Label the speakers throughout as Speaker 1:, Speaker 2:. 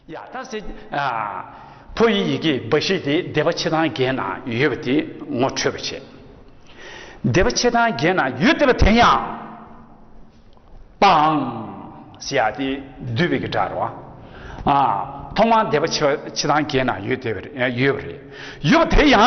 Speaker 1: ཡ་ཐ་སི། ཕོ་ཡི་ཡི་གེ་འབའ་ཞིག་དེ་སྡེ་པ་ཆེ་ཐང་བརྒྱད་ན་ཡོད་པ་དེ་ངོ་འཕྲོད་པར་བྱེད། སྡེ་པ་ཆེ་ཐང་བརྒྱད་ན་ཡོད་སྡེ་པ་དེ་ཡང། པའང། སི་ཡ་དེ་བསྡུས་པའི་གི་སྒྲ་རོ། ཐོག་མར་སྡེ་པ་ཆེ་ཐང་བརྒྱད་ན་ཡོད་སྡེ་པ་ཡོད་པ་རེད། ཡོད་པ་དེ་ཡང།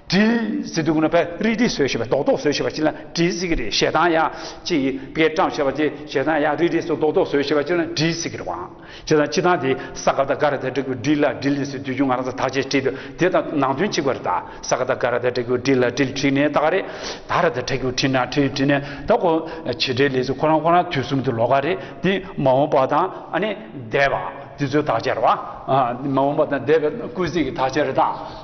Speaker 1: དྲི་ཟིག་འདུག་ན་བེ་རི་དྲི་ཟོས་ཞེས་པ་རྡོག་རྡོག་ཟོས་ཞེས་པ་ཅི་ལ་དྲི་ཟིག་རེད་ཞེ་སྡང་ཡ་ཅི་བེ་བཀྲམ་ཞེས་པ་ཅི་ཞེ་སྡང་ཡ་རི་དྲི་ཟོས་རྡོག་རྡོག་ཟོས་ཞེས་པ་ཅི་ལ་དྲི་ཟིག་རེད་བང་ཅི་དང་ཅི་དང་དེ་ས་ག་ད་ག་ར་ད་དྲི་གུ་དྲི་ལ་དྲི་ལི་སི་དུས་རྒྱུན་ང་རང་ཚོ་ཐག་བཅད་བྲིས་འདུག་དེ་དང་ནང་དོན་གཅིག་པ་རེད་ད་ས་ག་ད་ག་ར་ད་དྲི་གུ་དྲི་ལ་དྲི་ལི་དྲི་ནས་ད་ག་རེད་ད་ར་ད་དྲི་གུ་དྲི་ན་དྲི་དྲི་ནས་ད་གོ་བྱེད་འབྲེལ་ལས་ཚོ་ཁོ་རང་ཁོ་རང་དུས་གསུམ་དུ་ལོག་ག་རེད་དེ་མ་འོངས་པ་དང་ཨ་ནི་འདས་པ་དེ་ཚོའི་དག་ཆ་རེད་བ་མ་འོངས་པ་དང་འདས་པའི་སྐུལ་ཚིག་གི་དག་ཆ་རེད་ད།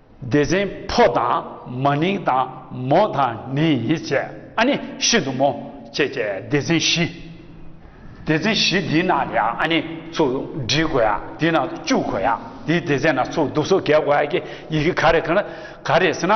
Speaker 1: སྡེ་ཚན་ཕོ་དང་མ་ནིང་དང་མོ་དང་ནི་ཡི་བཅས་ཨ་ནི་ཤིན་ཏུ་མོ་བཅས་བཅས་སྡེ་ཚན་བཞི། སྡེ་ཚན་བཞི་འདི་ནང་ནས་ཨ་ནི་ཚུར་འབྲི་དགོས་ཡ་འདི་ནང་དུ་བཅུག་དགོས་ཡ་འདི་སྡེ་ཚན་ནང་ཚུར་འདུག་སོ་བརྒལ་དགོས་ཡ་ཀྱི་ཡི་གེ་ག་རེ་ག་རེ་ཟེར་ན།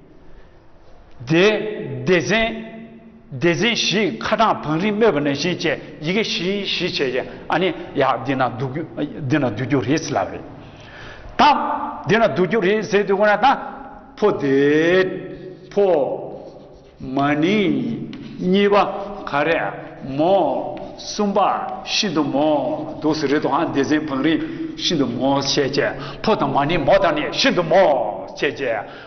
Speaker 1: སྡེ། སྡེ་ཚན། སྡེ་ཚན་བཞི་ཁ་གྲངས་བང་རིམ་སྨོས་པ་ནས་བཞིན་བཅས་ཡི་གེ་བཞི་བཞི་བྱས་ཀྱི་ཨ་ནི་ཡག་འདི་ན་འདུག་འདི་ན་སྡུད་རྒྱུ་རེད་ཟེར་ལབ་རེད་དམ། འདི་ན་སྡུད་རྒྱུ་རེད་ཟེར་དུས་ཁོ་ན་ད། ཕོ་དེ། ཕོ། མ་ནི། གཉིས་པ། ག་རེ། མོ། གསུམ་པ། ཤིན་ཏུ་མོ། འདུག་ཟེར་རེད་དོ་ཨ་སྡེ་ཚན་བང་རིམ། ཤིན་ཏུ་མོ་བྱས་རྗེས་ཕོ་དང་མ་ནི་མོ་དང་ནི་ཤིན་ཏུ་མོ་བྱས་རྗེས།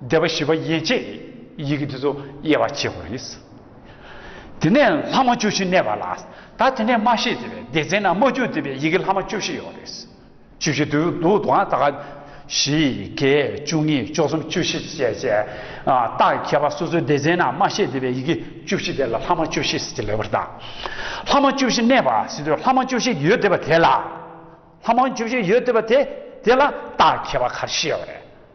Speaker 1: བཟླས་པ་བཞི་པ་ཡན་ཆད་ནི་ཡི་གེ་འདི་ཚོ་དབྱེ་བ་ཕྱེད་དགོས་རེད། དེ་ནས་ལྷག་མ་བཅུ་བཞི་གནས་པ་ལ་ད་དེ་ནས་མ་ཤེས་ཟེར་བའི་སྡེ་ཚན་ནང་མ་བཅུ་བསྡུས་པའི་ཡི་གེ་ལྷག་མ་བཅུ་བཞི་ཡོད་རེད། བཅུ་བཞི་བསྡུ་འདུག་དང་ད་ག། བཞི། བརྒྱད། བཅུ་གཉིས། བཅུ་གསུམ། བཅུ་བཞི་བཅས་བཅས། རྟགས་ཀྱི་ཁྱད་པར་སོ་སོའི་སྡེ་ཚན་ནང་མ་ཤེས་ཟེར་བའི་ཡི་གེ་བཅུ་བཞི་དེ་ལ་ལྷག་མ་བཅུ་བཞི་ཟེར་གྱི་ལེ་བར་བརྟག། ལྷག་མ་བཅུ་བཞི་གནས་པ་ཟེར་དུས་ལྷག་མ་བཅུ་བཞི་ཡོད་བསྡད་པ་དེ་ལ། ལྷག་མ་བཅུ་བཞི་ཡོད་བསྡད་པ་དེ་དེ་ལ་རྟགས་ཀྱི་ཁྱད་པར་ག་རེ་ཤེས་ཡོད་རེད།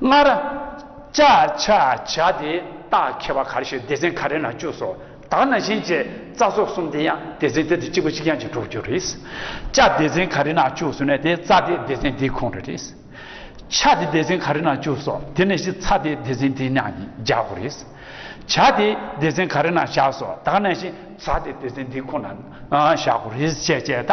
Speaker 1: སྔར། བཅའ་བྱ་བྱ་སྟེ་རྟགས་ཁྱད་པར་གར་ཞིག་སྡེ་ཚན་ག་རེ་ན་བཅུ་སོ་དག་ན་བཞིན་བཅས་རྩ་སོགས་གསུམ་དེ་ཡང་སྡེ་ཚན་དེ་དང་གཅིག་པ་གཅིག་རྐྱང་གཅིག་གྲོགས་གྱུར་རེད། བཅའ་སྡེ་ཚན་ག་རེ་ན་བཅུ་སོ་ནས་དེ་རྩ་དེ་སྡེ་ཚན་དེའི་ཁོངས་རེ་རེད། ཆ་དེ་སྡེ་ཚན་ག་རེ་ན་བཅུ་སོ་དེ་ནས་བཞིན་ཚ་དེ་སྡེ་ཚན་དེའི་ནང་བཞག་གོ་རེད། བྱ་དེ་སྡེ་ཚན་ག་རེ་ན་བཞག་སོ་དག་ན་བཞིན་ཚ་དེ་སྡེ་ཚན་དེའི་ཁོངས་ན་བཞག་གོ་རེད་བཅས་བཅས་ད།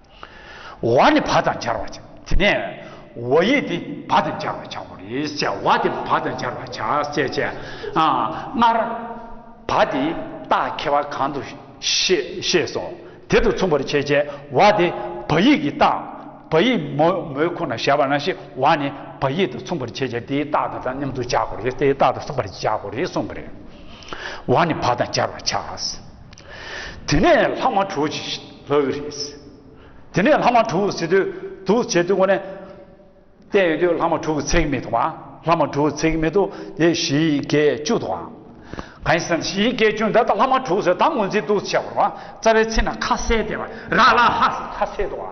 Speaker 1: བ་ནི་བ་དང་སྦྱར་བར་བྱ། དེ་ནས་བ་ཡིག་དེ་བ་དང་སྦྱར་བར་བྱ་བ་རེད་ཅེས་བ་དེ་བ་དང་སྦྱར་བར་བྱ་ཞེས་བྱའི། སྔར་བ་དེའི་རྟགས་ཁེལ་བ་གང་དུ་ཤེས་སོ། དེ་དང་མཚུངས་པར་བྱེད་ཅེས་བ་དེ་བ་ཡིག་གི་རྟགས་བ་ཡིག་མོའི་ཁོ་ན་བཞག་པ་ན་ཤེས་བ་ནི་བ་ཡིག་དང་མཚུངས་པར་བྱེད་ཅེས་དེའི་རྟགས་དང་མཉམ་དུ་སྦྱར་བ་རེད་དེའི་རྟགས་དང་མཚུངས་པར་སྦྱར་བ་རེད་གསུངས་པ་རེད། བ་ནི་བ་དང་སྦྱར་བར་བྱ། དེ་ནས་ལྷག་མ་དྲུག་ཅིག་ལྷག་གི་རེད། དེ་ནས་ལྷག་མ་དྲུག་ཟེར་དུས་དུག་བྱེད་དུས་ངོ་ནས་བལྟས་ཡོད་དུས་ལྷག་མ་དྲུག་ཚེགས་མེད་འདུག་བ། ལྷག་མ་དྲུག་ཚེགས་མེད་དུ་དེ་བཞི་བརྒྱད་བཅུ་འདུག་བ། གང་ཡིན་ཟེར་ན་བཞི་བརྒྱད་བཅུ་འདི་ལྟར་ལྷག་མ་དྲུག་ཟེར་ད་ངོས་འཛིན་དུག་བྱེད་བར་བ་རྩ་བའི་ཚིག་ན་ཁ་གསལ་དེ་བ་ར་ལ་ཧ་ཟེར་ཁ་གསལ་འདུག་བ།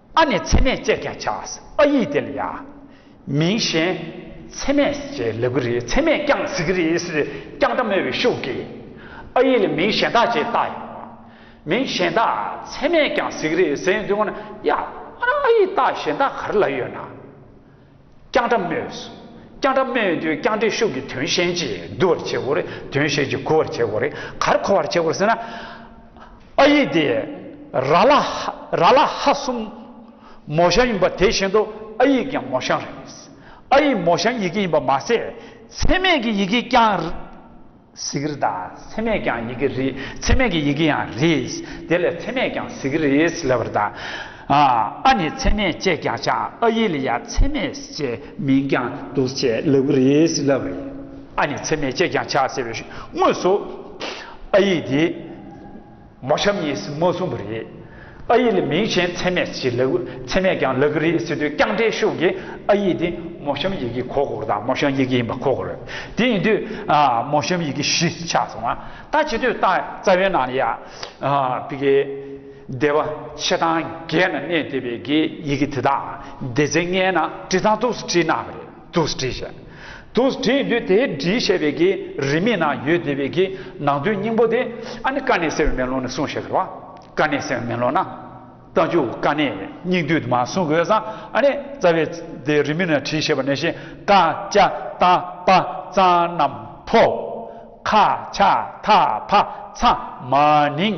Speaker 1: ཨ་ནི་ཚད་མས་དཔྱད་ཀྱང་བྱ། ཨ་ཡིག་དེ་ལ་ཡང། མིང་གཞན། ཚད་མས་ཀྱི་ལེགས་པོ་རེད་ཚད་མས་བསྐྱངས་གཟིགས་ཀྱི་རེད་ཟེར་བསྐྱངས་དྲ་མོས་པའི་ཤུགས་ཀྱིས། ཨ་ཡིག་ལ་མིང་གཞན་དག་ཅེས་བཏགས་ཡོང། མིང་གཞན་དག་ཚད་མས་བསྐྱངས་གཟིགས་ཀྱི་རེད་ཟེར་ཡོང་དུས་ང་ན་ཡ། ཨ་ཡིག་བཏགས་གཞན་དག་ག་རེ་ལ་ཡོད་ན། རྐྱང་སྒྲ་སྨྲོས་སོ། རྐྱང་སྒྲ་སྨྲོས་དུས་རྐྱང་སྒྲའི་ཤུགས་ཀྱིས་དོན་གཞན་གྱིས་བསྡུ་བར་བྱེད་དགོས་རེད་དོན་གཞན་གྱིས་གོ་བར་བྱེད་དགོས་རེད་གར་གོ་བར་བྱེད་དགོས་ཟེར་ན། ཨ་ཡིག་དེ་ར་ལ་ར་ལ་ཧ་གསུམ་མོ་ཞང་ཡིན་པ་དེ་བཞིན་དུ་ཨ་ཡིག་ཀྱང་མོ་ཞང་རེད། ཨ་ཡིག་མོ་ཞང་ཡི་གེ་ཡིན་པ་མ་ཟད་ཚད་མེད་ཀྱི་ཡི་གེ་རྐྱང། ཟེར་གི་རེད་ད། ཚད་མས་ཀྱང་ཡི་གེ་རེད། ཚད་མེད་ཀྱི་ཡི་གེ་ཡང་རེད། དེ་ལས་ཚད་མས་ཀྱང་ཟེར་གི་རེད་ལབ་པར་གདའ། ཨ་ནི་ཚད་མས་ཅེས་ཀྱང་བྱ། ཨ་ཡིག་ལ་ཡང་ཚད་མས་ཅེས་མིང་ཀྱང་འདུག་ཅེས་ལབ་གི་རེད་ལབ་པ་ཡིན། ཨ་ནི་ཚད་མས་ཅེས་ཀྱང་བྱ་ཟེར་བའི་དངོས་སུ་ཨ་ཡིག་དེ། མོ་ཤམ་ཡེ་སི་མོ་གསུངས་པ་རེད། ཨ་ཡེ་ལ་མིང་ཆེན་ཚད་མེད་ཅིག་ལབ་ཚད་མེད་ཀྱང་ལབ་གི་རེད་ཟེར་དུས་རྐྱང་དྲན་ཤོག་གི་ཨ་ཡེ་དེ་མོ་ཤམ་ཡེ་གི་གོ་གོར་དང་མོ་ཤམ་ཡེ་གི་ཡིན་པ་གོ་གོར་དེ་ཡིན་དུས་མོ་ཤམ་ཡེ་གི་གཞི་ཆགས་སོང་བ་ད་བྱེད་དུས་ད་རྩ་བའི་ནང་ལ་ཡ་བི་གའི་སྡེ་བ་ཆེ་ཐང་བརྒྱད་ན་གནས་སྡེ་བི་གའི་ཡེ་གི་དེ་དག་སྡེ་ཚན་ལྔའི་ནང་བྲིས་ཐང་ཐུགས་སུ་བྲིས་གནང་བ་རེད། དུ་སྒྲིལ་བྱ། དུ་སྒྲིལ་ཡིན་དུས་དེའི་སྒྲིལ་བྱས་པའི་གི་རིས་མེད་ན་ཡོད་དེ་བའི་གི་ནང་དོན་སྙིང་པོ་དེ་ཨ་ནི་ཀ་ནས་སེལ་བའི་མེ་ལོང་ནས་གསུངས་ཞེས་ཟེར་བ། ཀ་ནས་སེལ་བའི་མེ་ལོང་ན་རྟ་ཆུ་ཀ་ནས་སྙིགས་དུས་དུ་མ་གསུངས་དགོས་ས་ཨ་ནི་རྩ་བའི་དེའི་རིས་མེད་ན་བྲིས་ཞེས་པ་ནས་བཞིན་ཀ་ཅཱ་རྟ་པ་རྩང་རྣམས་ཕོ། ཁ་ཆ་ཐ་ཕ་ཚ་མ་ནིང།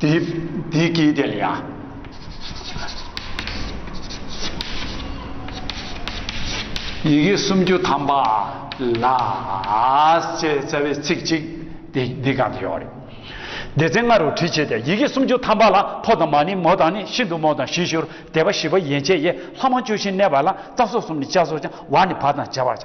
Speaker 1: འདི་སྐད་དེ་ལ་ཡང། ཡི་གེ་སུམ་ཅུ་ཐམ་པ་ལ། ཅེས་རྩ་བའི་ཚིག་གཅིག་འདི་འདི་གང་དུ་ཡོད་རེད། སྡེ་ཚན་ལྔ་རུ་དྲིལ་བྱས་ཏེ་ཡི་གེ་སུམ་ཅུ་ཐམ་པ་ལ་ཕོ་དང་མ་ནི་མོ་དང་ནི་ཤིན་ཏུ་མོ་དང་ཞི་ཞོར་དད་པ་ཞི་བ་ཡན་ཆད་ཡས་ལྷ་མང་བཅུ་བཞིན་གནས་པ་ལ་རྩ་སོགས་གསུམ་ནི་ལྕགས་སོགས་ཀྱང་བ་ནི་བ་དང་བྱ་བར་བྱ།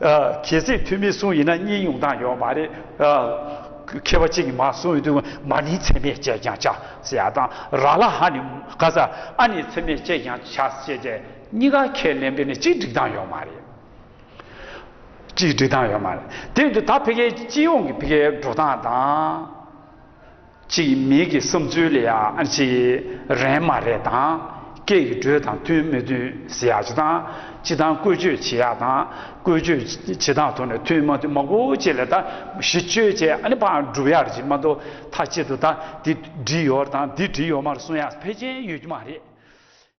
Speaker 1: གལ་སྲིད་འཐུས་མི་གསུམ་ཡིན་ན་གཉིས་ཉུང་བཏང་ཡོད་མ་རེད། མཁས་པ་གཅིག་གིས་མ་གསུངས་ཡོད་དུས་མ་ནི་འཚེ་མེད་ཅེས་ཀྱང་བྱ་ཟེར་ཡ་དང་ར་ལ་ཧ་ནི་ག་ས་ཨ་ནི་འཚེ་མེད་ཅེས་ཀྱང་བྱ་ཞེས་དེ་གཉིས་ཀ་ཁས་ལེན་པས་ནི་གཅིག་འགྲིག་སྟངས་ཡོད་མ་རེད། གཅིག་འགྲིག་སྟངས་ཡོད་མ་རེད། དེ་བས་དུས་ད་ཕེ་ཁའི་སྤྱི་ཡོངས་ཀྱི་ཕེ་ཁའི་འགྲོ་སྟངས་དང། གཅིག་མིག་གི་བསམ་ཚུལ་ལ་ཡང་ཅི་རན་མ་རེད་དང་སྐད་ཡིག་འགྲོས་དང་མཐུན་མི་མཐུན་ཟེར་ཡག་ཅི་དང་ཅི་དང་བཀོལ་སྤྱོད་བྱེད་ཡག་དང་བཀོལ་སྤྱོད་བྱེད་སྟངས་ཐོག་ནས་མཐུན་མ་མཐུན་མ་གོ་བཅས་ལ་ད་གཞི་བཅོལ་བཅས་ཨ་ནི་པང་སྒྲུབ་ཡག་རེད་ཅིག་མ་གཏོགས་ཐ་ཆད་དུ་ད་འདི་བྲིས་ཡོར་དང་འདི་བྲིས་ཡོར་མར་གསུང་ཡག་ཕལ་ཆེན་ཡོད་རྒྱུ་མ་རེད།